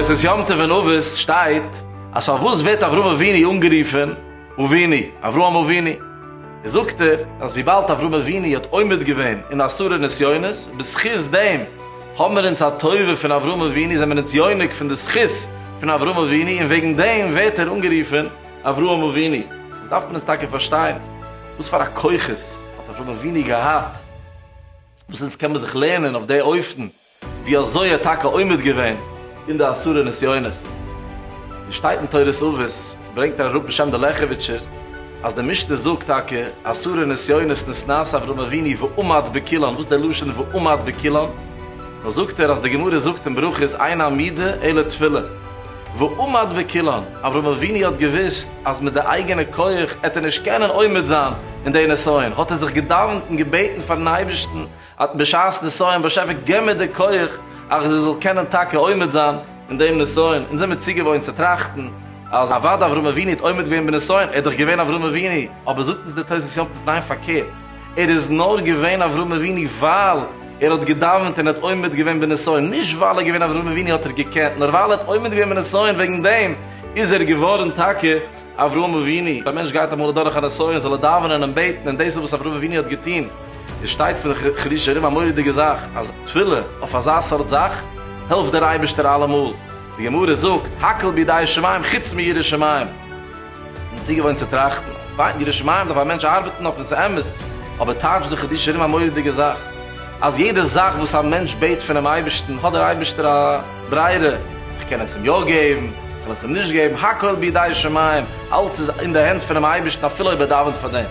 תוס' יום טוב אין אבות שטייט אז פארוואס ווערט אברהם אבינו אנגערופען אבינו, אברהם אבינו? זאגט ער אז וויבאלד אברהם אבינו האט עומד געווען אין עשרה נסיונות, בזכות דעם האמער אונז א טובה פון אברהם אבינו, זעמער אונז יונק פון די זכות פון אברהם אבינו, און וועגן דעם ווערט ער אנגערופען אברהם אבינו, דאס דארף מען עס טאקע פארשטיין, וואס פאר א כוחות האט אברהם אבינו געהאט, וואס אונז קען מען זיך לערנען אויף די אופן ווי אזוי ער האט טאקע עומד געווען אין די עשרה נסיונות. ווי שטייט אין תורת אבות, ברענגט ר' ראובן שם דער לעכעוויטשער, אז די משנה זאגט טאקע עשרה נסיונות נשנאת אברהם אבינו ועמד בקילן, וואס דער לשון ועמד בקילן? נאר זאגט ער אז די גמרא זאגט אין ברכות אין המידה אלא תפילה. ועמד וקילן, אברהם אבינו האט געוואוסט אז מיט די אייגענע כח עט ער נישט קענען עומד זיין אין די נסיון, האט ער זיך געדאווענט און געבעטן פארן אייבערשטן אט בשעת נסיון, באשעפער געב מיר די כח אז איך זאל קענען טאקע עומד זיין אין דעם נסיון, אונז זעמיר צוגעוואוינט צו טראכטן אז אוודאי אברהם אבינו האט עומד געווען בנסיון, ער איז דאך געווען אברהם אבינו, אבער זאגט אונז דער תוס' יום טוב ניין פארקערט, ער איז נאר געווען אברהם אבינו ווייל ער האט געדאווענט און האט עומד געווען בנסיון, נישט ווייל ער איז געווען אברהם אבינו האט ער געקענט, נאר ווייל ער האט עומד געווען בנסיון וועגן דעם איז ער געווארן טאקע אברהם אבינו. א מענטש גייט אמאל אדורך א נסיון זאל ער דאווענען און בעטן, און דאס איז וואס אברהם אבינו האט געטון. עס שטייט פון חידושי הרי ם א מורא'דיגע זאך, אז תפילה אויף אזא סארט זאך העלפט דער אייבערשטער אלעמאל, די גמרא זאגט, הכל בידי שמים חוץ מיראת שמים. און צוגעוואוינט צו טראכטן. פיין, ירא שמים דארף א מענטש ארבעטן אויף און ס'איז אמת, אבער טייטש דאך איז דיר שוין ארום א מורא'דיגע זאך, אז יעדע זאך וואס א מענטש בעט פונעם אייבערשטן האט דער אייבערשטער א ברירה, איך קען עס אים יא געבן, איך קען עס אים נישט געבן, הכל בידי שמים, אלץ איז אין די הענט פונעם אייבערשטן אפילו אויב ער דאווענט פאר דעם.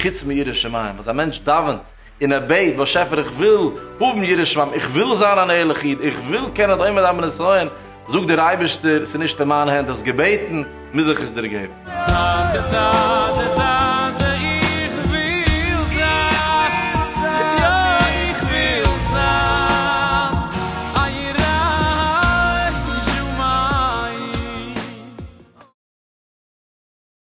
חוץ מירא שמים, אז א מענטש דאווענט און ער בעט, באשעפער איך וויל האבן יראת שמים, איך וויל זיין אן ערליכע איד, איך וויל קענען די עומד על מן ישראל, זאגט דער אייבערשטער, ס'איז נישט אין מיין הענט, האסט געבעטן, מוז איך עס דיר געבן.